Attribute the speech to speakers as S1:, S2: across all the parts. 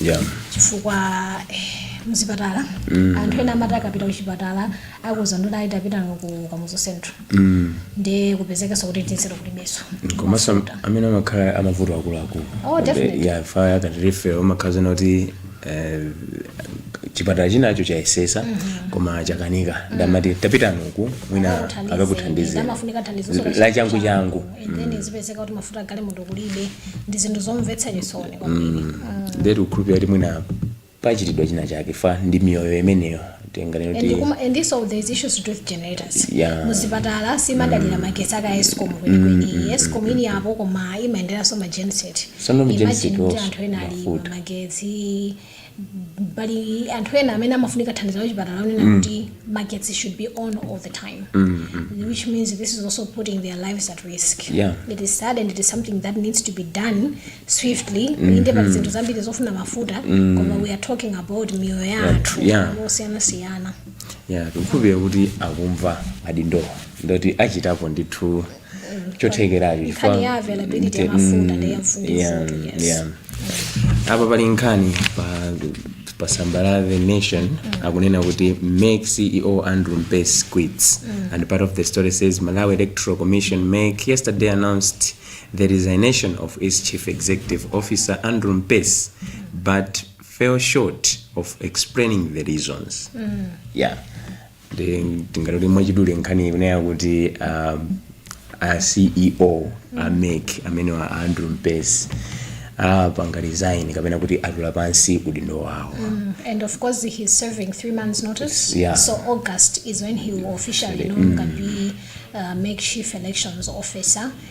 S1: yeah.
S2: chifukwa
S1: eh, mzipatala mm. anthu ena amati akapita kuchipatala akuuzidwa ndoti ayi tapitani ku kamuzu central mm. ndi kupezekanso kuti tinsero kulibenso komanso
S2: amene amakhala amavuto akuluakulu Oh,
S1: definitely. ya fa akati
S2: refer imakhala zoona kuti eh, chipatala chinacho chayesesa koma chakanika nde amati tapitani uku mwina Akakuthandize. akakuthandizira nde amafunika thandizo,
S1: so lachangu changu
S2: then mm.
S1: zipezeka kuti mafuta galimoto kulibe ndi zinthu zomvetsa chisoni kwambiri mm. mm. nde tikukhulupirira
S2: kuti mwina pachitidwa china chake fa ndi miyoyo imeneyo muzipatala simadalira
S1: magetsi aka escom kwenikweni escom ilipo koma imaenderanso magenset anthu ena ali magetsi pali anthu ena amene amafunika thandizo la kuchipatala onena mm. kuti magetsi should be on all the time mm, mm. which means this is also putting their lives at risk yeah. it is sad and it is something that needs to be done swiftly mm -hmm. inde pali zinthu zambiri zofuna mafuta mm. koma we are talking about miyoyo ya anthu yeah. yeah. tikukhulupirira
S2: kuti akumva adindowa ndipo achitapo ndithu chothekeracho chifukwa- Nkhani
S1: ya availability Nte- ya mafuta ndi ya mm, mfundo yeah, zote, yes.
S2: yeah. apa pali nkhani pa pa samba la the nation akunena kuti mec ceo andrew mpesi quits and part of the story says malawi electoral commission mec yesterday announced the resignation of its chief executive officer andrew mpesi but fell short of explaining the reasons yeah ndi tingati kuti mwachidule nkhani ikunena kuti um, a ceo a mec ameneyu a andrew mpesi apanga resign kapena kuti atula pansi udindo wawo Mm, and of
S1: course he's serving three months notice Yeah. so august is when he will officially no longer be uh, mec chief elections officer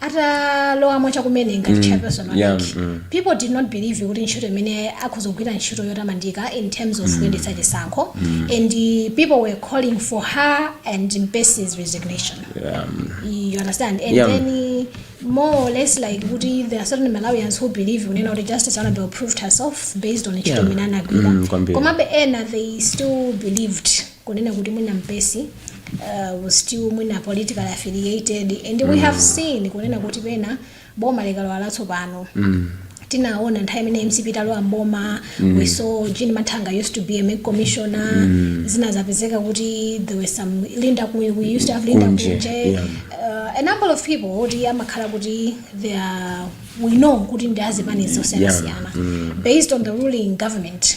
S1: atalowamo chakumene ngati chairperson wa yeah, MEC, mm. people did not believe kuti ntchito imene akhoza kugwira ntchito yotamandika in terms of kuyendetsa chisankho and uh, people were calling for her and Mpesi's resignation Um, you understand and Yeah. then uh, more or less like kuti there are certain malawians who believe kunena kuti justice anabel proved herself based on ntchito Yeah. imene anagwira Mm, kwambiri. komabe ena they still believed kunena kuti mwina mpesi uh, was still mwina politically affiliated and we have seen kunena kuti pena boma likalowa latsopano tinaona nthawi imene mcp idalowa mboma we saw jean mathanga used to be a mec commissioner zinadzapezeka kuti there were some linda Ku- we used to have linda Kunje, kunje yeah. uh, a number of people kuti amakhala kuti they are we know kuti ndi azipani zosiyanasiyana based on the ruling government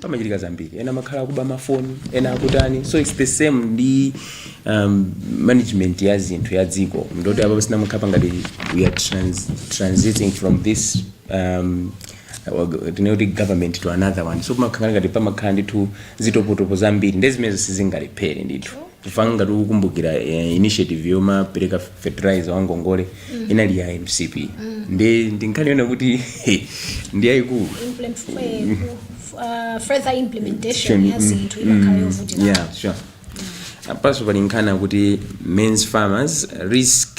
S2: pamachitika zambiri ena amakhala akuba mafoni ena akutani so its the same ndi um, management ya zinthu ya dziko ndiye kuti apapa zinamukhala ngati we are trans, transiting from this um, tinene kuti government to another one so pamakhala ngati pamakhala ndithu zitopotopo zambiri nde zimenezo sizingalephere ndithu chifukwa ngati ukukumbukira eh, initiative yomapereka fertilizer wa ngongole inali ya mcp nde ndi nkhani yoona kuti ndi yaikulu
S1: Implement- eh, ku- uh, further implementation ya zinthu imakhala yovutika yeah sure
S2: apanso pali nkhani kuti men's farmers risk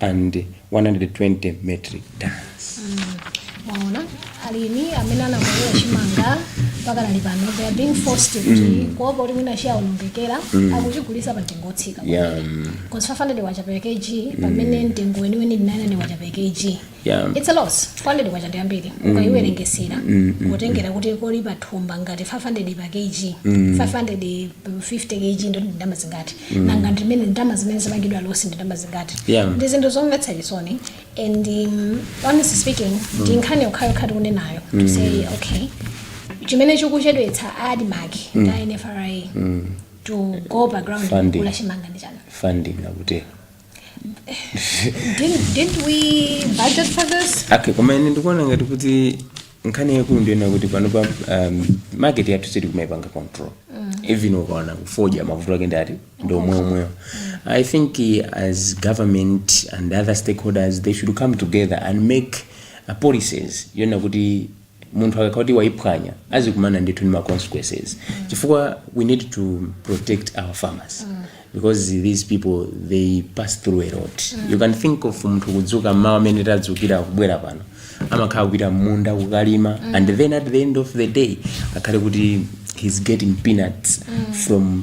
S2: and 120 metric tons. mwaona
S1: alimi amene anamwera chimanga mpaka nalo pano they are being forced to mm. kuopa kuti mwina chiaonongekera mm. akuchigulitsa pa mtengo otsika Yeah, mm, because 500 kwacha per kg pamene mtengo weniweni ndi 900 kwacha per kg yeah. it's a loss 400 kwacha ndi ambiri ukaiwerengesera kutengera kuti koli pa thumba ngati 500 pa kg 500 50 kg ndiye kuti ndalama zingati nanga ndimene ndalama zimene zapangidwa loss ndi ndalama zingati Yeah. ndi zinthu zomvetsa chisoni and um, honestly speaking ndi nkhani yokhayokha tikunenayo to say okay chimene chikuchedwetsa admark ndi nfra to go background Funding. kugula chimanga ndi chani funding akutero Didn't, didn't we budget for this? okay koma ine
S2: ndikuona ngati kuti nkhani yaikulu ndi yonena kuti panopa um, market yathu sitikumaipanga control even ukaona kufoja mavuto ake ngati ndi omweomwewo i think eh, as government and other stakeholders they should come together and make uh, policies yonena kuti munthu akakhala kuti waiphwanya azikumana ndithu ndi ma consequences chifukwa we need to protect our farmers because these people they pass through a lot you can think of munthu kudzuka mmawa amene tadzukira kubwera pano amakhala kupita mmunda kukalima and then at the end of the day akhale kuti he's getting peanuts from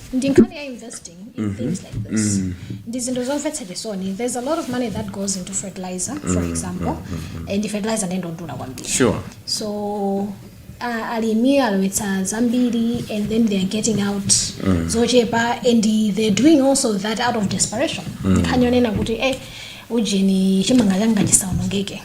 S1: ndi nkhani ya investing in things like this ndi zinthu zomvetsa chisoni there's a lot of money that goes into fertilizer for example and fertilizer ndi yodula kwambiri sure so uh, alimi alowetsa zambiri and then they're getting out zochepa and they're doing also that out of desperation nkhani yonena kuti eh ujeni chimanga changa chisaonongeke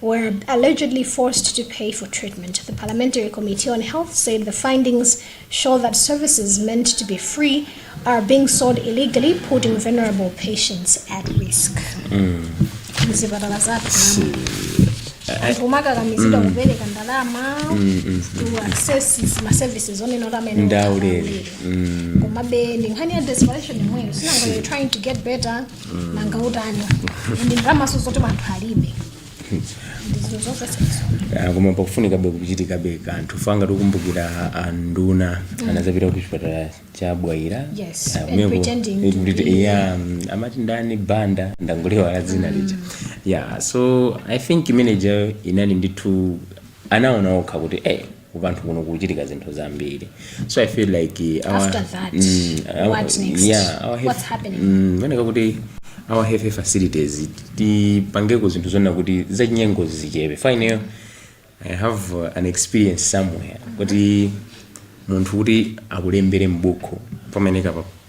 S1: were allegedly forced to pay for treatment. The Parliamentary Committee on Health said the findings show that services meant to be free are being sold illegally, putting vulnerable patients at risk. Mzipatala zathu anthu akumakakamizidwa kupereka ndalama to access ma services onena kuti amene ndi
S2: aulere. komabe
S1: ndi nkhani ya desperation yomweyo si nanga you're trying to get better nanga utani ndi ndalamaso zoti anthu alibe
S2: ndizo zonse sezo Ah, koma pakufunikabe kuchitikabe kanthu ngati tikumbukira anduna anazapita ku chipatala cha bwaila Yes, Ah, and kumeko- pretending to kuti- be- yeah, mm, amati ndani banda ndangoiwala dzina lija yeah so i think imeneja inali ndithu anaona okha kuti eh kumalo kuno kuchitika zinthu zambiri so i feel like uh, our, after
S1: that mm, our, what next yeah, our what's happening mm, mwina kuti
S2: our health facilities tipangeko zinthu zoona kuti zachinyengo zichepe fine i have uh, an experience somewhere kuti munthu kuti akulembere m'buku pamenepa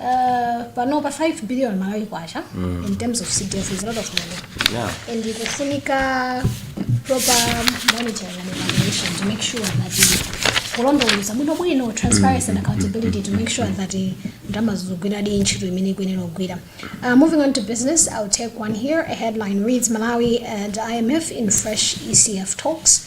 S1: Uh, panopa 5 billion malawi kwacha mm. in terms of cdf is a lot of money yeah. and ikufunika proper monitoring and evaluation to make sure that kulondoloza bwinobwino transparency and accountability to make sure that ndalama zogwira di ntchito imene ikuyenera kugwira uh, moving on to business i'll take one here a headline reads malawi and imf in fresh ecf talks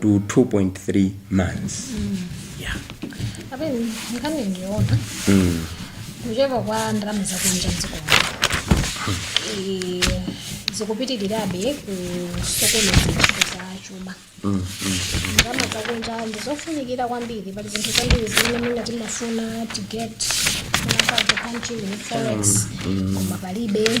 S2: to 2.3 months
S1: yeah. Abeni, nkhani ndi yoona kuchepa kwa ndalama zakunja mdziko muno zikupitirirabe kusokoneza ntchito za chuma ndalama zakunja ndizofunikira kwambiri pali zinthu zambiri zimene mwina timafuna tigete out of the country with forex koma palibe